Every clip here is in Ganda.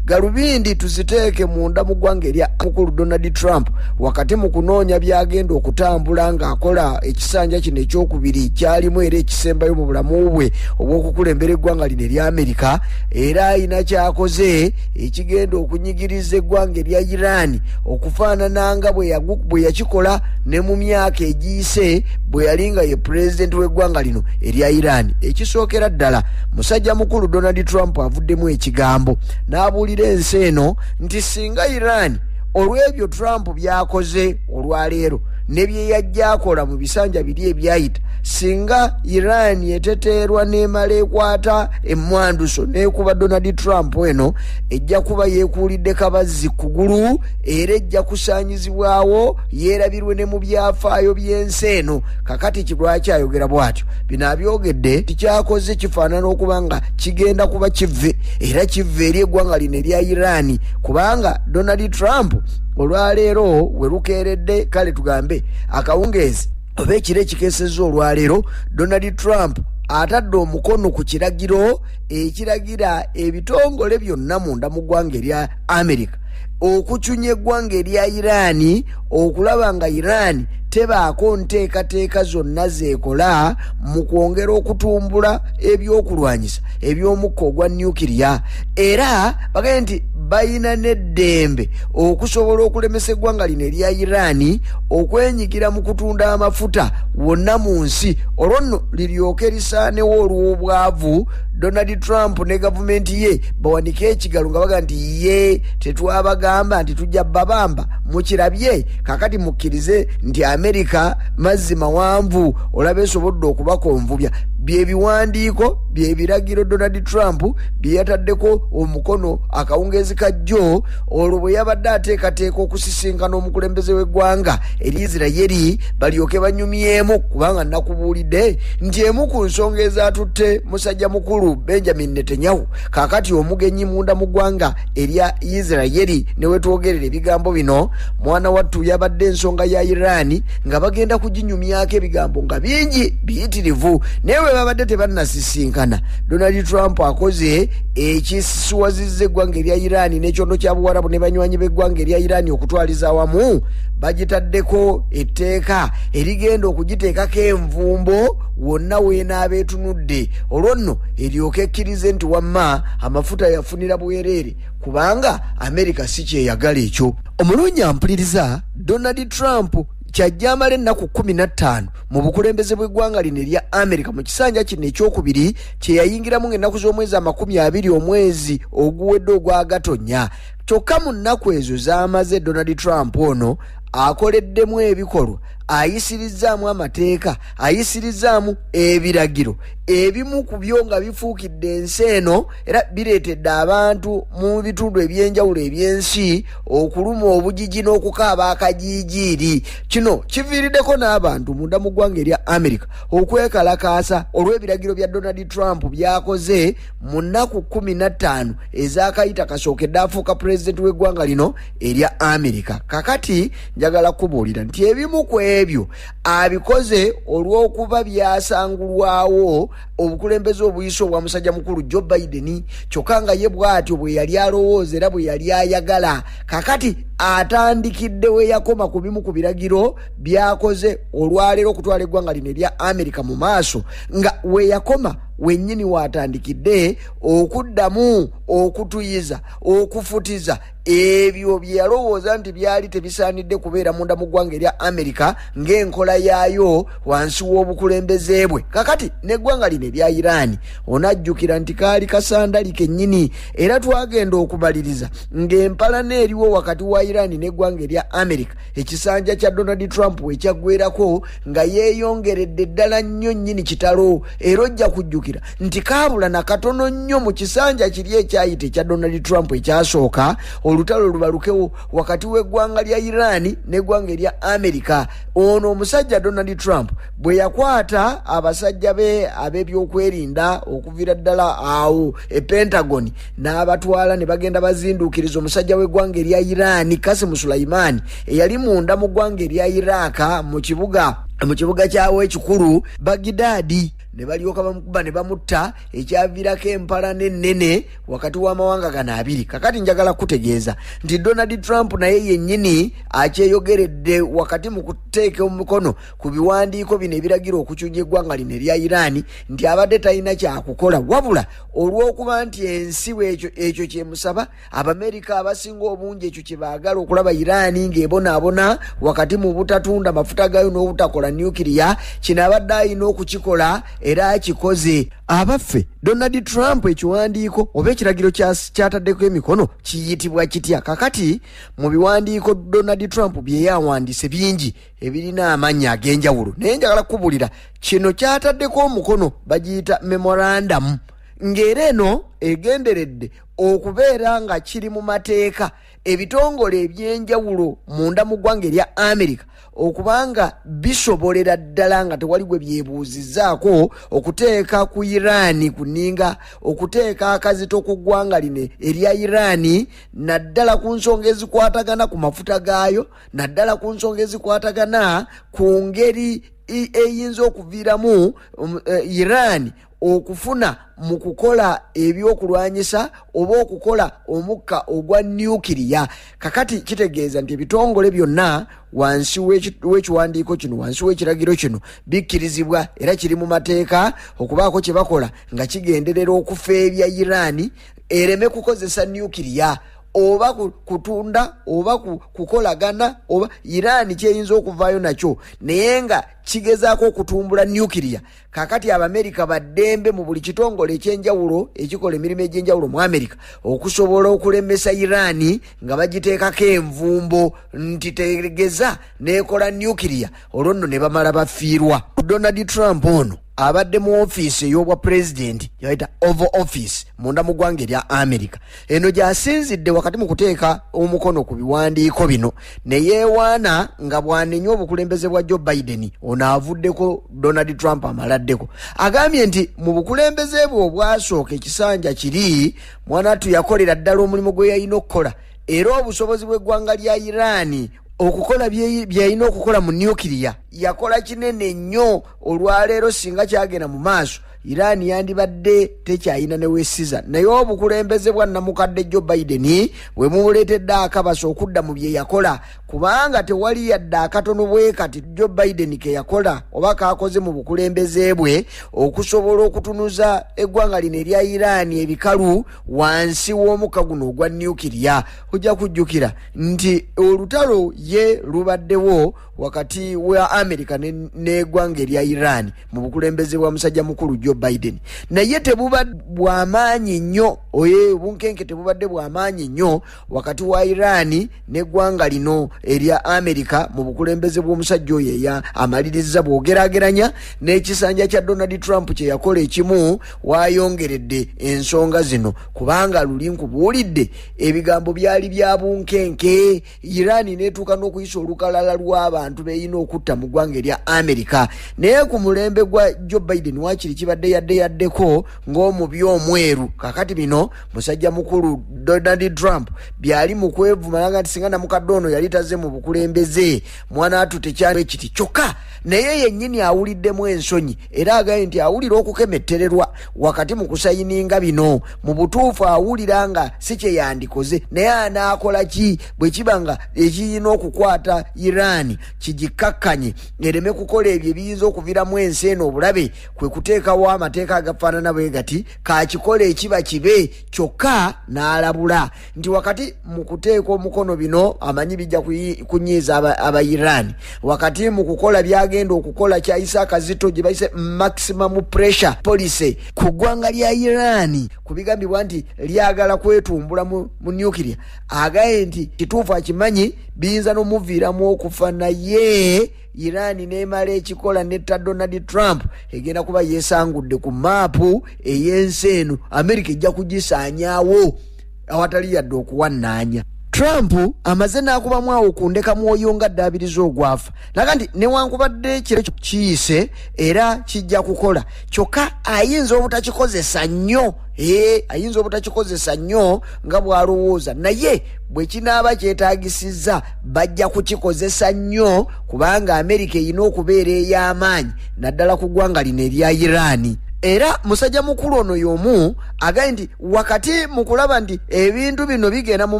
galubindi tuziteeke munda mu ggwanga erya mukulu donald trump wakati mu kunoonya byagenda okutambula ng'akola ekisanja kino ekyokubiri kyalimu era ekisembayo mu bulamu bwe obw'okukulembera eggwanga lino erya amerika era alina kyakoze ekigenda okunyigiriza eggwanga erya iran okufaanana nga bwe yakikola ne mu myaka egiyise bwe yali nga ye pulezidenti w'eggwanga lino erya iran ekisookera ddala musajja mukulu donald trump avuddemu ekigambo n'abuulira ensi eno nti singa iran olw'ebyo trump byakoze olwaleero ne bye yajja akola mu bisanja biri ebyayita singa iran eteteerwa n'emala ekwata emmwanduso n'ekuba donald trump eno ejja kuba yeekuulidde kabazzi kugulu era ejja kusaanyizibwawo yeerabirwe ne mu byafaayo by'ensi eno kakati kirwaki ayogera bw'atyo bino abyogedde tikyakoze kifaanana okuba nga kigenda kuba kivve era kivve eri eggwanga lino erya irani kubanga donald trump olwaleero we lukeeredde kale tugambe akawungeezi oba ekiro ekikeseza olwaleero donald trump atadde omukono ku kiragiro ekiragira ebitongole byonna munda mu ggwanga erya america okucunya eggwanga erya iraani okulaba nga iraani tebaako nteekateeka zonna zeekola mu kwongera okutumbula ebyokulwanyisa eby'omukka ogwa nucleya era bagaye nti balina n'eddembe okusobola okulemesa eggwanga lino erya iraani okwenyigira mu kutunda amafuta wonna mu nsi olwo nno liryoke lisaanewo olw'obwavu donald trump ne gavumenti ye bawanike ekigalo nga baga nti ye tetwabagamba nti tujja babamba mukirabye kakati mukkirize nti amerika mazzi mawanvu olaba esobodde okubakonvubya byebiwandiiko byebiragiro donald trump byeyataddeko omukono akawungeezi kajjo olwo bwe yabadde ateekateeka okusisinkana omukulembeze w'eggwanga eri isirayeri balyoke banyumyemu kubanga nakubuulidde nti emu ku nsonga ezaatutte musajja mukulu benjamin netanyahu kaakati omugenyi munda mu ggwanga erya isirayeri ne wetwogerera ebigambo bino mwana wattu yabadde ensonga ya iraani nga bagenda kuginyumyako ebigambo nga bingi biyitirivu naye bwe babadde tebannasisinkana donald trump akoze ekisisiwazizza eggwanga erya iraani n'ekyondo kya buwarabu ne banywanyi b'eggwanga erya iraani okutwaliza awamu bagitaddeko etteeka erigenda okugiteekako envumbo wonna weenaaba etunudde olwo nno eryoka ekkirize nti wamma amafuta yafunira bwereere kubanga amerika si kyeyagala ekyo omulungi ampuliriza donald trump kyajja amala ennaku kumi na ttaano mu bukulembeze bw'eggwanga lino erya amerika mu kisanja kino ekyokubiri kyeyayingiramu ng'ennaku z'omwezi amakumi abiri omwezi oguwedde ogwagatonya kyokka mu nnaku ezo z'amaze donald trump ono akoleddemu ebikolwa ayisirizzaamu amateeka ayisirizzaamu ebiragiro ebimu ku byo nga bifuukidde ensi eno era bireetedde abantu mu bitundu eby'enjawulo eby'ensi okuluma obugigi n'okukaaba akajiijiiri kino kiviiriddeko n'abantu munda mu ggwanga erya amerika okwekalakaasa olw'ebiragiro bya donald trump byakoze mu nnaku 15 ezakayita kasookedde afuuka pulezidenti w'eggwanga lino erya amerika kakati njagala kubuulira nti ebimu ku ebyo abikoze olw'okuba byasangulwawo obukulembeze obuyisa obwa musajja mukulu joe biden kyokka nga ye bw'atyo bwe yali alowooza era bwe yali ayagala kakati atandikidde we yakoma ku bimu ku biragiro byakoze olwaleero okutwala eggwanga lino erya amerika mu maaso nga weyakoma wenyini watandikidde okuddamu okutuyiza okufutiza ebyo byeyalowooza nti byali tebisaanidde kubeera munda mu ggwanga erya amerika ng'enkola yaayo wansi w'obukulembeze bwe kakati n'eggwanga lino erya iraani onajjukira nti kaali kasandali kennyini era twagenda okubaliriza ng'empalana eriwo wakati wa iraani n'eggwanga erya amerika ekisanja kya donald trump wekyaggwerako nga yeeyongeredde ddala nnyo nnyini kitalo era ojja kujjukira nti kaabula na katono nnyo mu kisanja kiri ekyayita ekya donald trump ekyasooka olutalo lubalukewo wakati w'eggwanga lya iran n'eggwanga erya america ono omusajja donald trump bwe yakwata abasajja be ab'ebyokwerinda okuviira ddala awo e pentagon n'abatwala ne bagenda bazinduukiriza omusajja w'eggwanga erya iraani kasimu sulayimaani eyali munda mu ggwanga erya iraaka mu kibuga mu kibuga kyawo ekikulu bagidaadi ne balyoka bamukuba ne bamutta ekyaviirako empalana ennene wakati w'amawanga gano abiri kakati njagala kutegeeza nti donald trump naye yennyini akyeyogeredde wakati mu kuteeka omukono ku biwandiiko bino ebiragira okukyuja eggwanga lino erya iraani nti abadde talina kyakukola wabula olw'okuba nti ensi bwekyo ekyo kyemusaba abamerika abasinga obungi ekyo kyebaagala okulaba iraani ng'ebonaabona wakati mu butatunda mafuta gayo n'obutakola nukiriya kino abadde alina okukikola era akikoze abaffe donald trump ekiwandiiko oba ekiragiro kyataddeko emikono kiyitibwa kitya kakati mu biwandiiko donald trump byeyawandiise bingi ebirina amannya ag'enjawulo naye njagala kukubulira kino kyataddeko omukono bagiyita memorandamu ng'era eno egenderedde okubeera nga kiri mu mateeka ebitongole ebyenjawulo munda mu ggwanga erya amerika okubanga bisobolera ddala nga tewali gwe byebuuzizaako okuteeka ku iraani ku nninga okuteeka akazito ku ggwanga line erya iraani naddala ku nsonga ezikwatagana ku mafuta gaayo naddala ku nsonga ezikwatagana ku ngeri eyinza okuviiramu um, eh, iran okufuna mu kukola ebyokulwanyisa oba okukola omukka ogwa nuukiriya kakati kitegeeza nti ebitongole byonna wansi w'ekiwandiiko kino wansi w'ekiragiro kino bikkirizibwa era kiri mu mateeka okubaako kye bakola nga kigenderera okufeebya iraani ereme kukozesa nuukiriya oba kutunda oba kukolagana oba iran kyeyinza okuvaayo nakyo naye nga kigezaako okutumbula nuclear kakati abamerika baddembe mu buli kitongole ekyenjawulo ekikola emirimu egyenjawulo mu amerika okusobola okulemesa iran nga bagiteekako envumbo nti tegeza nekola nuclear olwo nno ne bamala bafiirwa donald trump ono abadde mu ofiisi ey'obwa pulezidenti yaita oval office munda mu ggwanga erya america eno gyasinzidde wakati mu kuteeka omukono ku biwandiiko bino ne yeewaana nga bwanenya obukulembeze bwa joe biden ono avuddeko donald trump amaladdeko agambye nti mu bukulembeze bwe obwasooka ekisanja kiri mwanatu yakolera ddala omulimu gwe yalina okukola era obusobozi bw'eggwanga lya iraani okukola byeyalina okukola mu nuclear yakola kinene nnyo olwaleero singa kyagenda mu maaso iran yandibadde tekyayina newesiza naye obukulembeze bwa namukadde jo biden bwe mubuleetedde akabasa okudda mu bye yakola kubanga tewali yadde akatono bwe kati jo biden ke yakola oba kaakoze mu bukulembeze bwe okusobola okutunuza eggwanga lino erya iran ebikalu wansi w'omukka guno ogwa nukiria ojja kujjukira nti olutalo ye lubaddewo wakati wa america n'egwanga erya iran mu bukulembeze bwa musajja mukulu joe biden naye tebuba bwamaanyi nnyo oye obunkenke tebubadde bwamaanyi nnyo wakati wa iran n'eggwanga lino erya america mu bukulembeze bw'omusajja oyo eya amaliriza bwogerageranya n'ekisanja kya donald trump kye yakola ekimu wayongeredde ensonga zino kubanga luli nkubuulidde ebigambo byali bya bunkenke irani netuuka n'okuyisa olukalala lw'abantu beyina okutta mu ggwanga erya amerika naye ku mulembe gwa joe biden wakiri kibadde yadde yaddeko ng'omubi omweru kakati bino musajja mukulu donald trump byali mu kwevumala nga nti singa namukadde ono yali taze mu bukulembeze mwana atu tekyali ekiti kyokka naye yennyini awuliddemu ensonyi era agaye nti awulira okukemettererwa wakati mu kusayininga bino mu butuufu awulira nga si kye yandikoze naye anaakola ki bwe kiba nga ekirina okukwata iran kigikkakkanye ereme kukola ebyo ebiyinza okuviramu ensi eno obulabe kwe kuteekawo amateeka agafaanana bwe gati kakikola ekiba kibe kyokka n'alabula nti wakati mu kuteeka omukono bino amanyi bijja kunyiiza aba iran wakati mu kukola byagenda okukola kya isaaka zito gye bayise maximum pressure policy ku ggwanga lya iran ku bigambibwa nti lyagala kwetumbula mu nuclear agaye nti kituufu akimanyi biyinza n'omuviiramu okufa naye iran nemala ekikola netta donald trump egenda kuba yesangudde ku maapu ey'ensi eno amerika ejja kugisaanyawo awatali yadde okuwannaanya trump amaze n'akubamu awo ku ndeka mwoyo nga ddaabiriza ogwafa naga nti newankubadde kiro kiyise era kijja kukola kyokka ayinza obutakikozesa nnyo ee ayinza obutakikozesa nnyo nga bw'alowooza naye bwe kinaaba kyetaagisizza bajja kukikozesa nnyo kubanga amerika erina okubeera ey'amaanyi naddala ku ggwanga lino erya iraani era musajja mukulu ono y'omu agaye nti wakati mu kulaba nti ebintu bino bigenda mu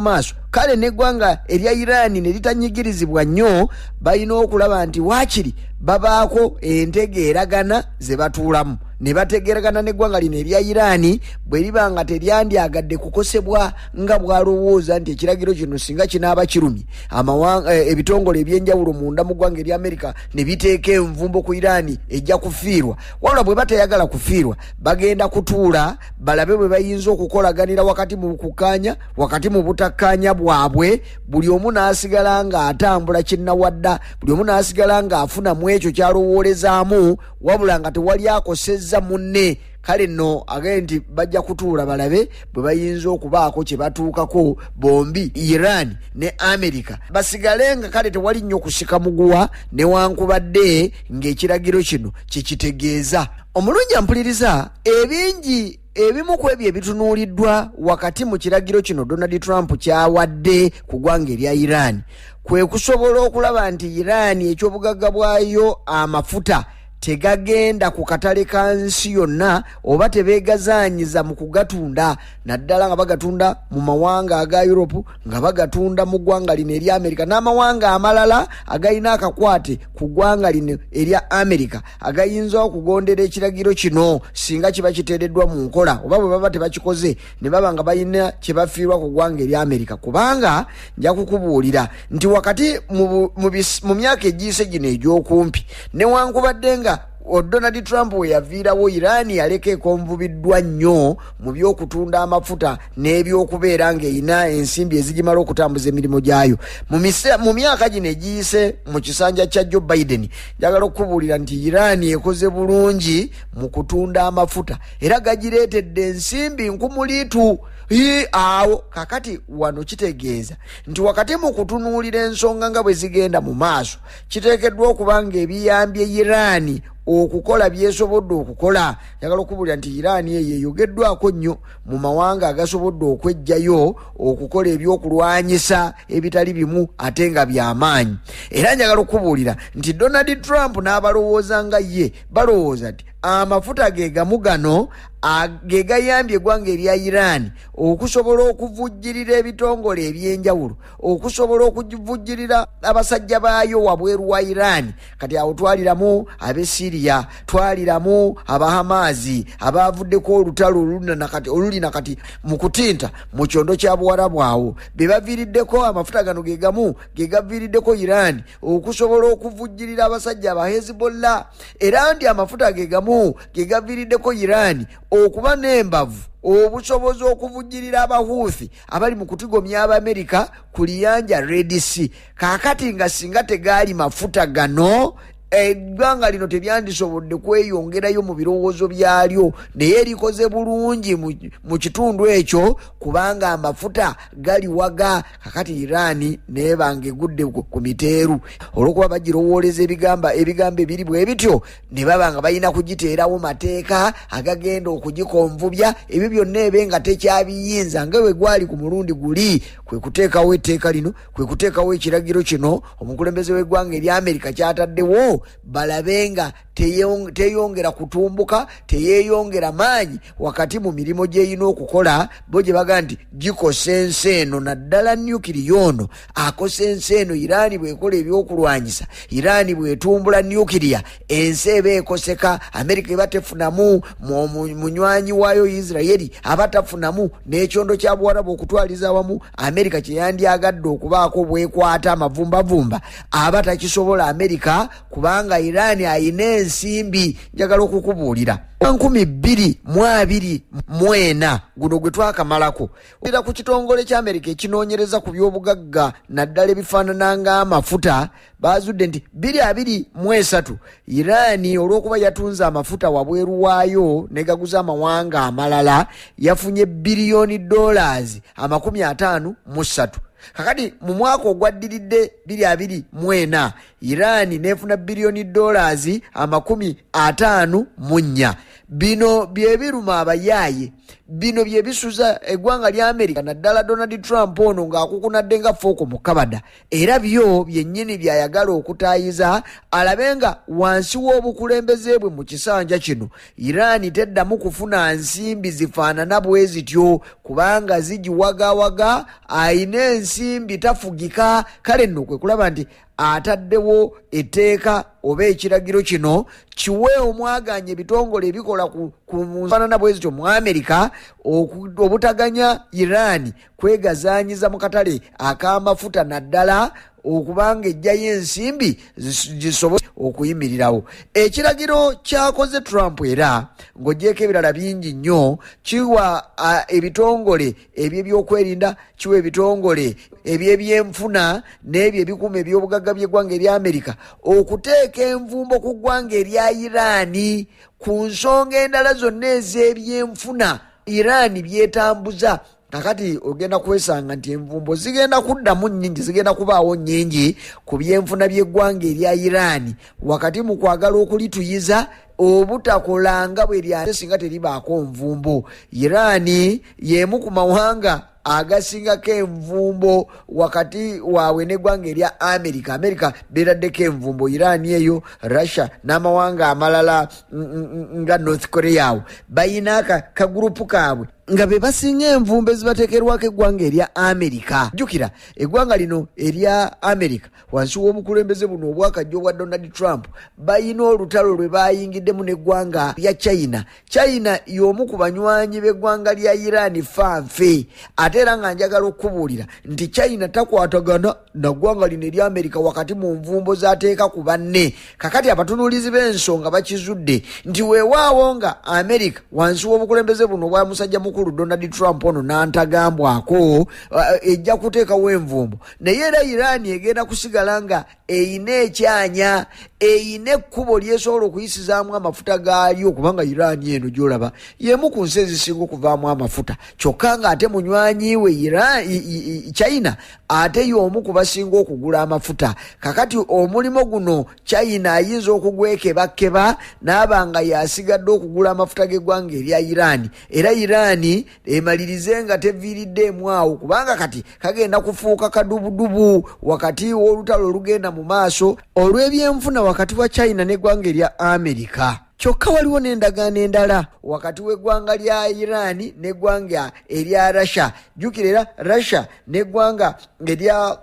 maaso kale n'eggwanga erya iraani ne litanyigirizibwa nnyo balina okulaba nti waakiri babaako entegeeragana ze batuulamu ne bategeeragana n'eggwanga lino erya iraani bwe liba nga teryandyagadde kukosebwa nga bwalowooza nti ekiragiro kino singa kinaaba kirumye eh, ebitongole ebyenjawulo munda mu ggwanga erya amerika ne biteeka envumbo ku iraani ejja kufiirwa wabula bwe batayagala kufiirwa bagenda kutuula balabe bwe bayinza okukolaganira wakati mu kukkaanya wakati mu butakkaanya bwabwe buli omu n'asigala ng'atambula kinnawadda buli omu n'asigala ng'afuna mu ekyo kyalowoolezaamu wabula nga tewali akosezza munne kale nno agee nti bajja kutuula balabe bwe bayinza okubaako kye batuukako bombi iran ne amerika basigale nga kale tewali nnyo kusika muguwa newankubadde ng'ekiragiro kino kye kitegeeza omulungi ampuliriza ebingi ebimu ku ebyo ebitunuuliddwa wakati mu kiragiro kino donald trump kyawadde ku gwanga erya iran kwe kusobola okulaba nti iran eky'obugagga bwayo amafuta tegagenda ku katale ka nsi yonna oba tebeegazaanyiza mu kugatunda naddala nga bagatunda mu mawanga aga europe nga bagatunda mu ggwanga lino erya amerika n'amawanga amalala agalina akakwate ku ggwanga lino erya amerika agayinza okugondera ekiragiro kino singa kiba kiteereddwa mu nkola oba bwe baba tebakikoze ne baba nga balina kye bafiirwa ku ggwanga erya amerika kubanga nja kukubuulira nti wakati mu myaka egiyise gino egy'okumpi newankubadde nga donald trump we yaviirawo iran yaleka ekonvubiddwa nnyo mu by'okutunda amafuta n'ebyokubeera ng'erina ensimbi ezigimala okutambuza emirimu gyayo mu myaka gino egiyise mu kisanja kya joe biden njagala okukubuulira nti iran ekoze bulungi mu kutunda amafuta era gagireetedde ensimbi nkumuliitu i awo kakati wano kitegeeza nti wakati mu kutunuulira ensonga nga bwe zigenda mu maaso kiteekeddwa okuba nga ebiyambye iraani okukola byesobodde okukola yagala okubulira nti iraani eyo eyogeddwako nnyo mu mawanga agasobodde okwejjayo okukola ebyokulwanyisa ebitali bimu ate nga byamaanyi era njagala okubuulira nti donald trump n'abalowooza nga ye balowooza nti amafuta ge gamu gano ge gayambye eggwanga erya iran okusobola okuvujjirira ebitongole ebyenjawulo okusobola okuvujjirira abasajja baayo wabweru wa iran kati awo twaliramu abe siriya twaliramu abahamaazi abaavuddeko olutalo oluli na kati mu kutinta mu kyondo kya buwarabu awo be baviiriddeko amafuta gano ge gamu ge gaviiriddeko iran okusobola okuvujjirira abasajja aba hezbollah era nti amafuta ge gamu ge gaviiriddeko iran okuba n'embavu obusobozi okuvujjirira abahuuthi abali mu kutigomya abaamerika ku liyanja redc kaakati nga singa tegaali mafuta gano eggwanga lino teryandisobodde kweyongerayo mu birowoozo byalyo naye erikoze bulungi mu kitundu ekyo kubanga amafuta galiwaga kakati iraani naye bange egudde ku miteeru olwokuba bagirowooleza ebigamba ebigambo ebiri bwe bityo ne baba nga balina kugiteerawo mateeka agagenda okugikonvubya ebyo byonna ebe nga tekyabiyinza nga bwe gwali ku mulundi guli kwe kuteekawo etteeka lino kwe kuteekawo ekiragiro kino omukulembeze w'eggwanga erya amerika kyataddewo balabe nga teyong- teyongera kutumbuka teyeyongera maanyi wakati mu mirimu gy'erina okukola bo gye bagamba nti gikosa ensi eno naddala nukiriya ono akosa ensi eno iraani bwekola ebyokulwanyisa iraani bwetumbula nukiriya ensi eba ekoseka amerika eba tefunamu mu- mu- munywanyi waayo isiraeri aba tafunamu n'ekyondo kya buwarabu okutwaliza awamu amerika kyeyandyagadde okubaako bwekwata amavumbavumba aba takisobola amerika kubanga iran ayina ensimbi njagala okukubuulira nkumi bbiri mu abiri mu ena guno gwe twakamalako era ku kitongole kya amerika ekinoonyereza ku byobugagga naddala ebifaanana ng'amafuta baazudde nti biri abiri mu esatu iran olw'okuba yatunze amafuta wabweru waayo negaguza amawanga amalala yafunye biliyoni dollars amakumi ataano mu ssatu kakati mu mwaka ogwaddiridde biri abiri mu ena Iran n'efuna biliyoni dollars amakumi ataano mu nnya bino byebiruma abayaaye bino byebisuza eggwanga lya amerika naddala donald trump ono ng'akukunadde nga fooko mu kabada era byo byennyini byayagala okutaayiza alabe nga wansi w'obukulembeze bwe mu kisanja kino iran teddamu kufuna nsimbi zifaanana bwe zityo kubanga zigiwagawaga ayina ensimbi tafugika kale nno kwe kulaba nti ataddewo etteeka oba ekiragiro kino kiwe omwaganya ebitongole ebikola ku nfanana bwe zityo mu amerika obutaganya iran kwegazaanyiza mu katale ak'amafuta naddala okubanga ejjayo ensimbi zisobole okuyimirirawo ekiragiro kyakoze trump era ng'ogyeko ebirala bingi nnyo kiwa ebitongole ebyebyokwerinda kiwa ebitongole ebyebyenfuna n'ebyo ebikuuma ebyobugagga by'eggwanga erya amerika okuteeka envumbo ku ggwanga erya iraani ku nsonga endala zonna ez'ebyenfuna iraani byetambuza kakati ogenda kwesanga nti envumbo zigenda kuddamu nnyingi zigenda kubaawo nnyingi ku byenfuna by'eggwanga erya iraani wakati mu kwagala okulituyiza obutakola nga bwe lyate singa teribaako nvumbo iraani y'emu ku mawanga agasingako envumbo wakati waabwe n'eggwanga erya amerika amerika beeraddeko envumbo iraani eyo russia n'amawanga amalala nga north korea awo balina kagurupu kaabwe nga be basinga envumbo ezibateekerwako eggwanga erya amerika jjukira eggwanga lino erya amerika wansi w'obukulembeze buno obwakajja obwa donald trump balina olutalo lwe bayingiddemu n'eggwanga lya china china y'omu ku banywanyi b'eggwanga lya iran fanfe ate era nga njagala okukubuulira nti china takwatagana na ggwanga lino erya amerika wakati mu nvumbo z'ateeka ku banne kakati abatunuulizi b'ensonga bakizudde nti weewaawo nga amerika wansi w'obukulembeze buno obwa musajja mukulu donald trump ono n'antagambwako eh, ejja kuteekawo envumbo naye era iran egenda kusigala nga eyina ekyanya eyina ekkubo lyesobola okuyisizaamu amafuta gaalyo kubanga iran eno gyolaba yemu ku nsi ezisinga okuvaamu amafuta kyokka nga ate munywanyiwe china ate yomu ku basinga okugula amafuta kakati omulimu guno china ayinza okugwekebakkeba naaba nga yasigadde okugula amafuta g'eggwanga erya iran era iran emalirize nga teviiriddeemu awo kubanga kati kagenda kufuuka kadubudubu wakati w'olutalo olugenda mu maaso olw'ebyenfuna wakati wa china n'eggwanga erya amerika kyokka waliwo n'endagaano endala wakati w'eggwanga lya iraani n'eggwanga erya russia jjukira era russia n'eggwanga erya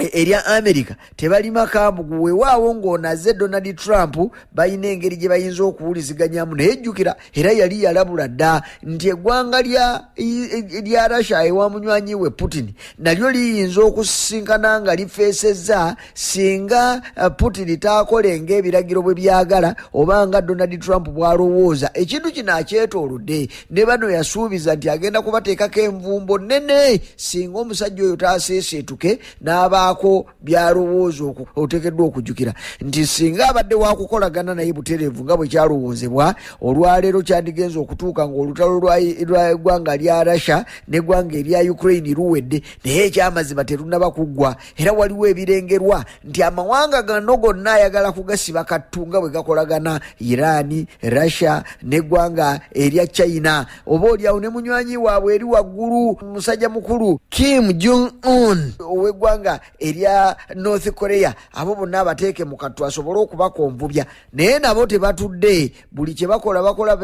E, erya america tebalima kambugu wewaawo ng'onaze donald trump balina engeri gye bayinza okuwuliziganyamu naye jjukira era yali yalabula dda nti eggwanga lya russia ewa munywanyi we putin nalyo liyinza okusisinkana nga lifeesezza singa eh, putin taakolenga ebiragiro bwe byagala oba nga donald trump bw'alowooza ekintu kino akyetoolodde ne bano yasuubiza nti agenda kubateekako envumbo nene singa omusajja oyo taaseeseetuke n'abaako byalowooza oteekeddwa okujjukira nti singa abadde wakukolagana naye butereevu nga bwe kyalowoozebwa olwaleero kyandigenza okutuuka ng'olutalo lw'eggwanga lya russia n'eggwanga erya ukraine luwedde naye ekyamazima terunaba kuggwa era waliwo ebirengerwa nti amawanga gano gonna ayagala kugasiba kattu nga bwe gakolagana iraani russia neggwanga erya china oba olyawo ne munywanyi waabwe eri waggulu musajja mukulu kim jung un ow'eggwanga erya north korea abo bonna abateeke mu kattu asobole okubakonvubya naye nabo tebatudde buli kye bakola bakola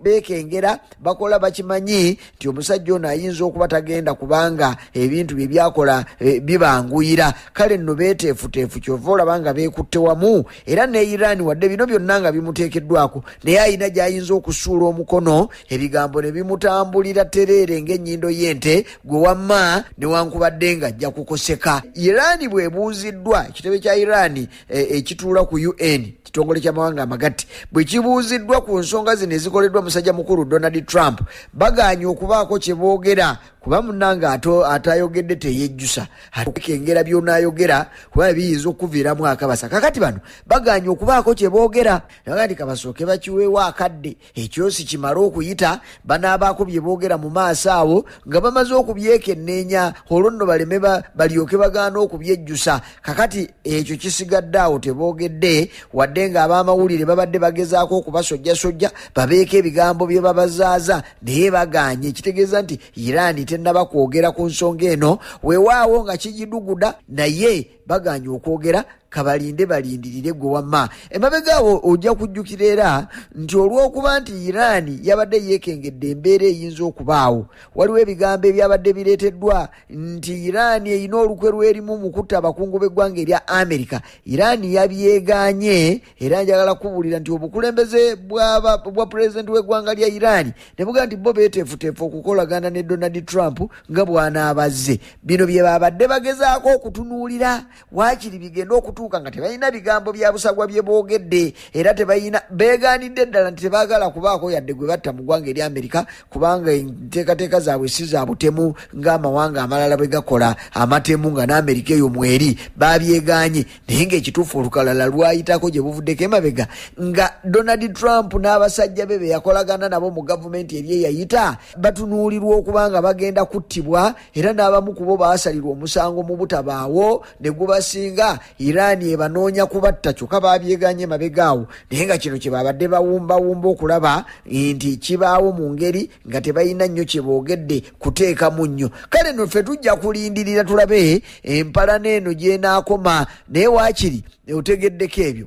beekengera bakola bakimanyi nti omusajja ono ayinza okuba tagenda kubanga ebintu bye byakola e, bibanguyira kale nno beeteefuteefu kyova olaba nga beekutte wamu era ne iran wadde bino byonna nga bimuteekeddwako naye alina gy'ayinza okusuula omukono ebigambo ne bimutambulira tereere ng'ennyindo y'ente gwe wamma newankubadde ng'ajja kukoseka iran bwebuuziddwa ekitebe kya iran e, ekituula ku un kitongole ky'amawanga amagatte bwe kibuuziddwa ku nsonga zino ezikoleddwa musajja mukulu donald trump bagaanye okubaako kye boogera kuba munange atayogedde teyejjusa atekengera byonayogera kuba biyinza okuviiramu akabasa kakati bano bagaanye okubaako kye boogera nagandi kabasooke bakiweewo akadde ekyosi kimale okuyita banaabaako bye boogera mu maaso awo nga bamaze okubyekenneenya olwo nno baleme balyoke bagaana okubyejjusa kakati ekyo kisigadde awo teboogedde wadde nga ab'amawulire babadde bagezaako okubasojjasojja babeeko ebigambo bye babazaaza naye bagaanye ekitegeeza nti iraani tennaba kwogera ku nsonga eno weewaawo nga kigiduguda naye baganye okwogera kabalinde balindirire gwe wamma emabega awo ojja kujjukira era nti olw'okuba nti iraani yabadde yeekengedde embeera eyinza okubaawo waliwo ebigambo ebyabadde bireeteddwa nti iraani erina olukwe lwerimu mu kutta abakungu b'eggwanga erya amerika iraani yabyegaanye era njagala kubuulira nti obukulembeze bwa pulezidenti w'eggwanga lya iran ne bugaa nti bo beeteefuteefu okukolagana ne donald trump nga bw'anaabazze bino bye babadde bagezaako okutunuulira waakiri bigenda okutuuka nga tebalina bigambo bya busagwa bye boogedde era tebalina beegaanidde ddala nti tebaagala kubaako yadde gwe batta mu ggwanga eri amerika kubanga enteekateeka zaabwe si za butemu ng'amawanga amalala bwe gakola amatemu nga n'amerika eyo mweri baabyegaanye naye ngaekituufu olukalala lwayitako gye buvuddeko emabega nga donald trump n'abasajja be be yakolagana nabo mu gavumenti eri eyayita batunuulirwa okuba nga bagenda kuttibwa era n'abamu kubo baasalirwa omusango mu butabaawo ne gubasinga iran ebanoonya kubatta kyokka babyeganye emabega awo naye nga kino kye babadde bawumbawumba okulaba nti kibaawo mu ngeri nga tebalina nnyo kye boogedde kuteekamu nnyo kale no ffe tujja kulindirira tulabe empalana eno gyenaakoma naye waakiri otegeddeko ebyo